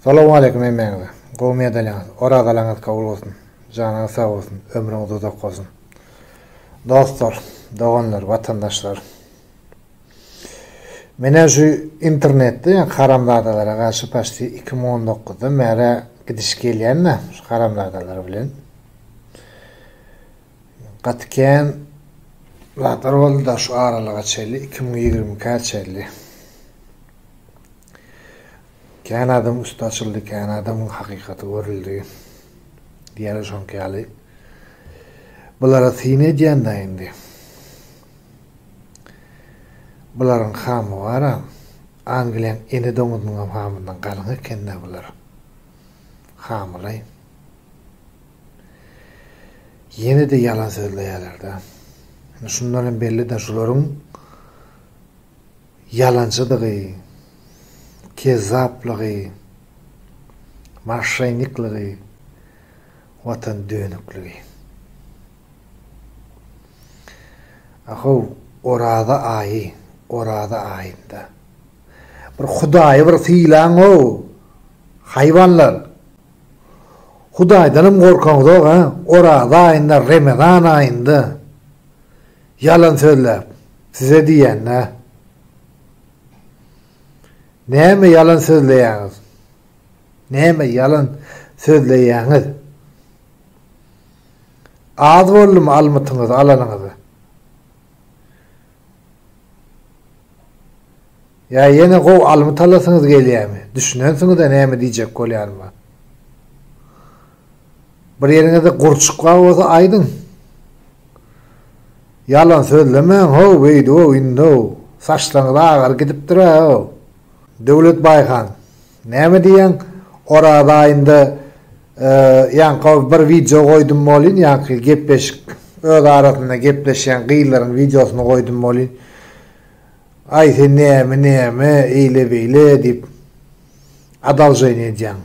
Salowmaleýkim hemmäňize. Gowy medalýaňyz, orazalaňyz kabul bolsun. Janyňyz sag bolsun, ömrüňiz uzak bolsun. Dostlar, doganlar, watandaşlar. Menä şu internetde ýa haramzadalara garşy paçti iki müň on dokuzdan bäri gidiş gelýän-dä şu haramzadalar bilen. Gaty kän zatlar boldy-da şu aralyga çenli, iki müň ýigrimi ikä çenli. Kän adamyň üsti açyldy, kän adamyň hakykaty görüldi. Diýýärler şoňky ýaly. Bulara syn edýän-dä indi. Bularyň hamy bar-a. Angliýaň ene doňuzynyňam hamyndan galyň eken-dä bular. Hamylaý. Ýene-de ýalan sözleýärler-dä. Indi şundan hem belli-dä, şularyň Ýalançydygy, kezzaplygy, maşşeýniklygy, watan dönükligi. Ahow, Oraza aýy, Oraza aýynda. Bir Hudaýy bir sylaň-ow, haýwanlar! Hudaýdanam gorkaňzok-a, Oraza aýynda, Remezan aýynda. Ýalan sözläp size diýýänä. Näme ýalan sözleýäňiz? Näme ýalan sözleýäňiz? Az boldumy almytyňyzy alanyňyza? Ýa ýene gowy almyt alasyňyz gelýärmi? Düşünensiňiz-ä näme diýjek bolýanyma? Bir ýeriňizde gurçuk bar bolsa aýdyň. Ýalan sözlemäň how beýdihow indow saçlaryňyz agar gidipdira how. Döwlet Baýhan näme diýýäň Oraz aýynda ýaňky bir wideo goýdum bolýn ýaňky gepleşik öz arasynda gepleşýän gyzlaryň wideosyny goýdum bolýn aý sen näme näme eýle beýle diýip adalženiýa edýäň.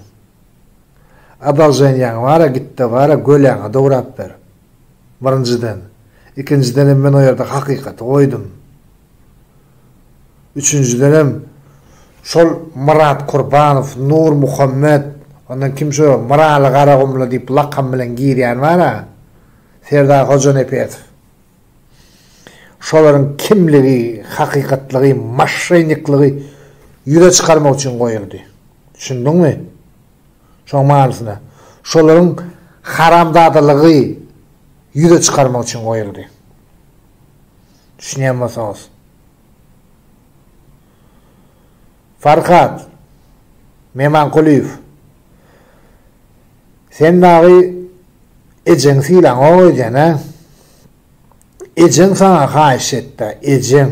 Adalženýaň bara gitde bara göläňe dograp ber. Birinjiden. Ikinjidenem men o ýerde hakykaty goýdum. Üçünjidenem şol Myrat Kurbanow, Nur Muhammet, ondan kim şo Myraly Garagumly diýip lakam bilen girýän bara Serdar Hojanepetow. şolaryň kimligi, hakykatlygy, maşşeýniklygy ýüze çykarmak üçin goýuldy. Düşündiňmi? Şoň manysyna, şolaryň haramzadalygy ýüze çykarmak üçin goýuldy. Düşünýän bolsaňyz. Farhat Memankulyýew Sen dagy ejeňi sylaňok ejen-ä. Ejeň saňa haýyş etdi-ä, ejeň.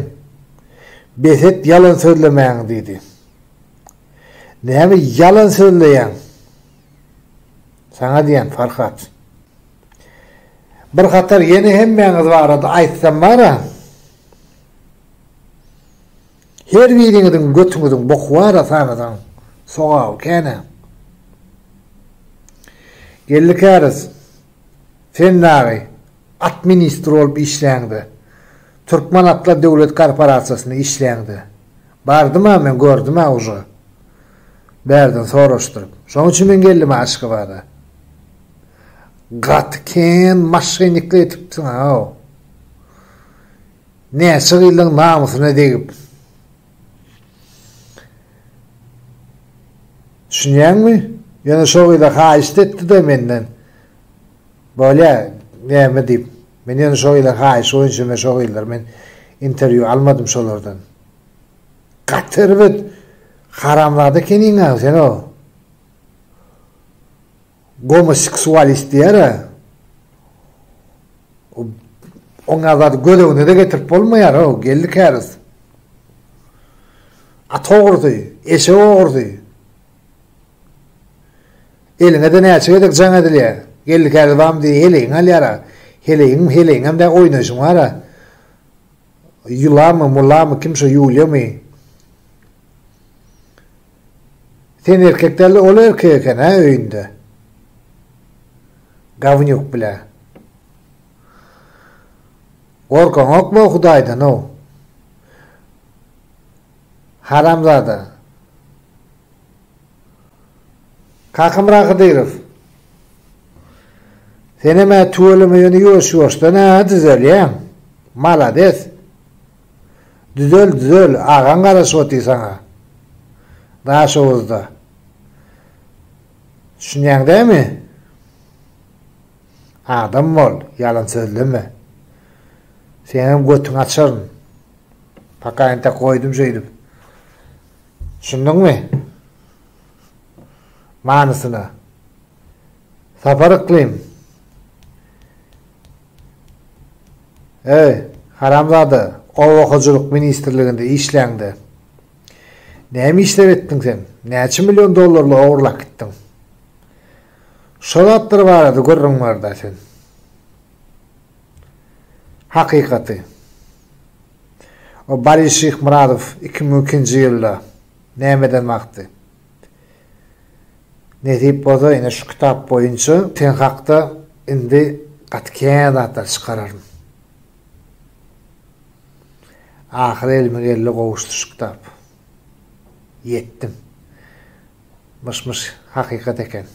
Bes et ýalan sözlemäňi diýdi. Näme ýalan sözleýäň? Saňa diýýän, Farhat. Bir hatar ýene hemmäňiz barada aýtsam bar-a. Her biriňiziň götüňiziň boky bar a saňyzyň sogaby känä. Geldi käriz sen dagy at ministr bolup işläňde Türkmen atlar döwlet korporasiýasynda işläňde bardym a men gördüm a uje bärden soraşdyryp şoň üçin men geldim a aşgabada gaty kän maşenniklik etipsiň a Näçe gyzlaň namysyna degip. Düşünýäňmi? Ýöne şo gyza haýyşt etdi-de menden. Bolýa, näme diýip. Men ýöne şo gyza haýyş boýunça men şo gyzlar men interwýu almadym şolardan. Gaty erbet. Haramzada ekeniň-ä sen o. Gomoseksualist diýer-ä. Oňa zady göz öňüne-de getirip bolmaýar-ow, geldi käriz. At ogrusy, eşek ogrusy. Eliňe-de näçe gezek jaň edilýär. Geldi käriz bam diýip heleýiňi alýar-a. Heleýiň, heleýiňem dä oýnaýşyň bar-a. Ýulamy, mulamy, kim şo ýulýamy? Sen erkek dälde ol erkek eken hä öýünde. Gawnýuk bile. Gorkaňokmy Hudaýdan how? Haramzada. Kakamyrat Hydyrow. Senem-ä tüweleme ýöne ýuwaş-ýuwaşdan-ä düzelýäň. Malades. Düzel düzel agaň garaşyp otyr saňa. Daşoguzda. Düşünýäň dämi? Adam bol, ýalan sözleme. Seňem götüňi açaryn. Paka ente goýdum şeýdip. Düşündiňmi? Manysyna. Sapar yklim. Eý, haramzada, oba hojalyk ministrliginde işläňde, näme işler etdiň sen? Näçe million dollarly ogurlap gitdiň? Şo zatlar barada gürrüň ber-dä sen. Hakykaty. O Bary Şyhmyradow iki müň ikinji ýylda nämeden bakdy? Nesip bolsa ine şu kitap boýunça sen hakda indi gaty kän zatlar çykararyn. Ahyry elime geldi gowuşdy şu kitap. Ýetdim. Myş myş hakykat eken.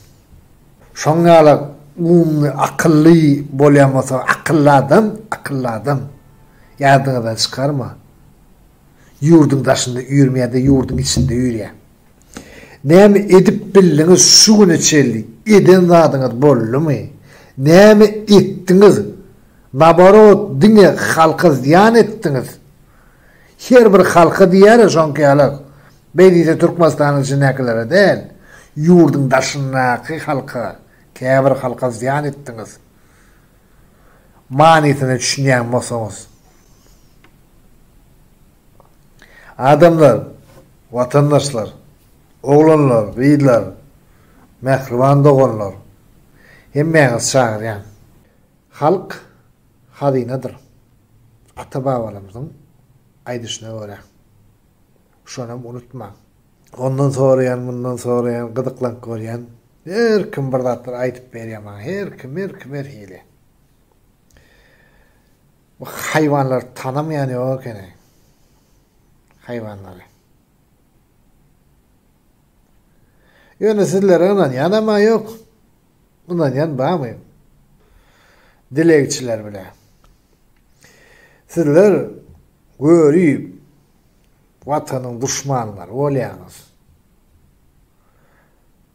Şoň ýaly umumy akylly bolýan bolsa akylly adam, akylly adam. Ýadyňyzdan çykarma. Ýurduň daşynda ýürüm ýa-da ýurduň içinde ýürýäň? Näme edip bildiňiz şu güne çenli? Eden zadyňyz boldumy? Näme etdiňiz? Naborot diňe halka zyýan etdiňiz. Her bir halka diýýäris şoňkaýalak. Beý diýse Türkmenistanyň içindäkilere däl. Ýurduň daşyndaky halka, käbir halka zyýan etdiňiz. manysyna düşünýän bolsaňyz. Adamlar, watandaşlar, oglanlar, gyzlar, mähriban doganlar, hemmäňizi çagyrýan. Halk hazynadyr. Ata-babalarymyzyň aýdyşyna görä. Şonam unutmaň. Ondan soraýan, mundan soraýan, gyzyklank görýän. Her kim bir zatlar aýdyp berýär maňa. Her kim, her kim her hili. Bu haýwanlary tanamaýan ýok ekeni. Haýwanlary. Ýöne sizlere ynanýan ama ýok. Ynanýan barmy? Dilegçiler bile. Sizler görüp, Watanyň duşmanlary bolýaňyz.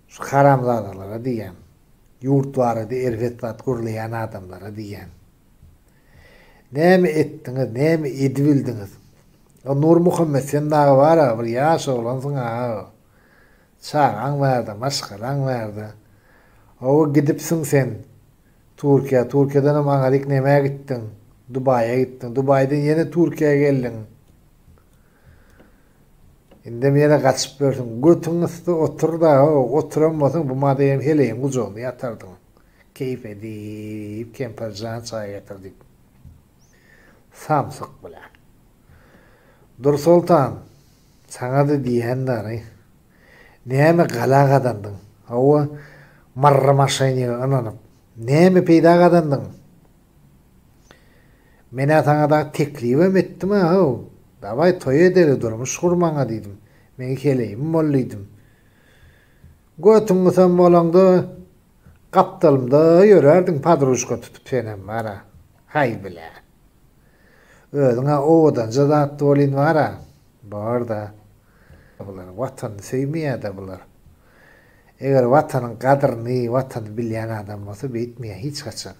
Şu haramzadalara diýýän. Ýurt barada erbet zat gürleýän adamlara diýýän. Näme etdiňiz, näme edibildiňiz? O Nurmuhammet sen dagy bar-a, bir ýaş oglansyň-a. Çagaň bar-da, maşgalaň bar-da. Oba gidipsiň sen. Turkiýa, Turkiýadan hem aňaryk nämä gitdiň? Dubaýa gitdiň. Dubaýdan ýene Turkiýa geldiň. Indem ýene gaçyp ýörsüň. Götüň ysda otur-da-ow, oturan bolsaň bu madaýam heleýiň gujagynda ýatardyň. Keýp edip, kempir jan çaý getir diýip. Samsyk, bilä. Dursoltan, saňa-da diýen bary, Näme gala gazandyň? Hawa, marra maşenige ynanyp. Näme peýda gazandyň? Men-ä saňa dagy teklibem etdim-ä-ow. Dawaý, toý edeli, durmuş gur maňa diýdim. Meň heleýim bol diýdim. Götüň gysam bolaňda, gapdalymda ýörerdiň padruşka tutup senem bar-a. Haý bile. Özüň-ä owadanja zat bolyn bar-a. Bar-da. Bular watany söýmeýäda bular. Eger watanyň gadryny watany bilýän adam bolsa beýtmeýä hiç haçan.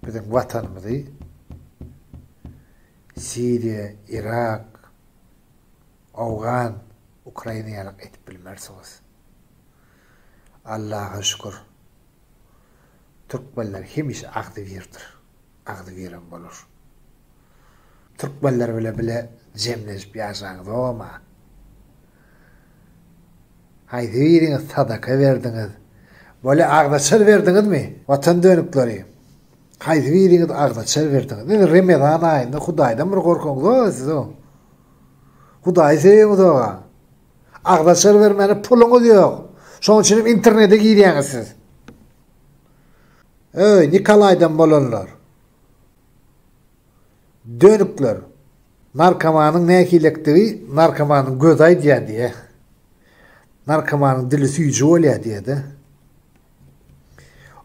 Biziň watanymyzy Siriýa, Irak, Owgan, Ukraina ýalak edip bilmersiňiz. Allaha şükür. Türkmenler hemişe agzybirdir. agzy gelen bolar. Türkmenler bile bile jemlenip ýaşaň zoma. Haýsy biriňiz sadaka berdiňiz? Bolýa agzaçar berdiňizmi? Watan dönükleri. Haýsy biriňiz agzaçar berdiňiz? Indi Remezan aýynda Hudaýdan bir gorkuň zo siz o. Hudaýy söýüň zoga. Agzaçar bermäne puluňyz ýok. Şoň üçin internete girýäňiz siz. Öý Nikolaýdan bolanlar. Dönükler. Narkomanyň nähilekdigi narkomanyň gözi aýdýar diýýä. Narkomanyň dili süýji bolýar diýýä-de.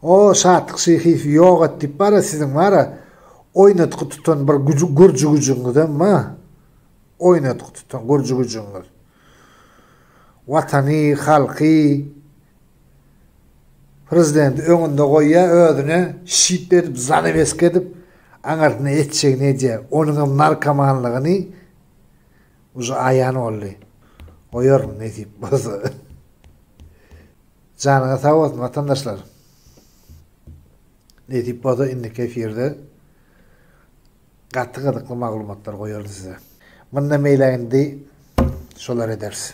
O Şatlyk Şyhyýew ýok et diýip bar-a siziň bar-a oýnatgy tutan bir güji gürji güjüňizem bar. Oýnatgy tutan gürji güjüňiz. Watany, halky Prezidenti öňünde goýýar, özüne şyp edip, zanaweska edip, aňyrsyna etjegini edýär. Onuňam narkomanlygyny uje aýan boldy. Goýaryn, nesip bolsa. Janyňyz sag bolsun, watandaşlar. Nesip bolsa, indiki efirde gaty gyzykly maglumatlar goýaryn size. Mundan beýlägini-de şolar ederis.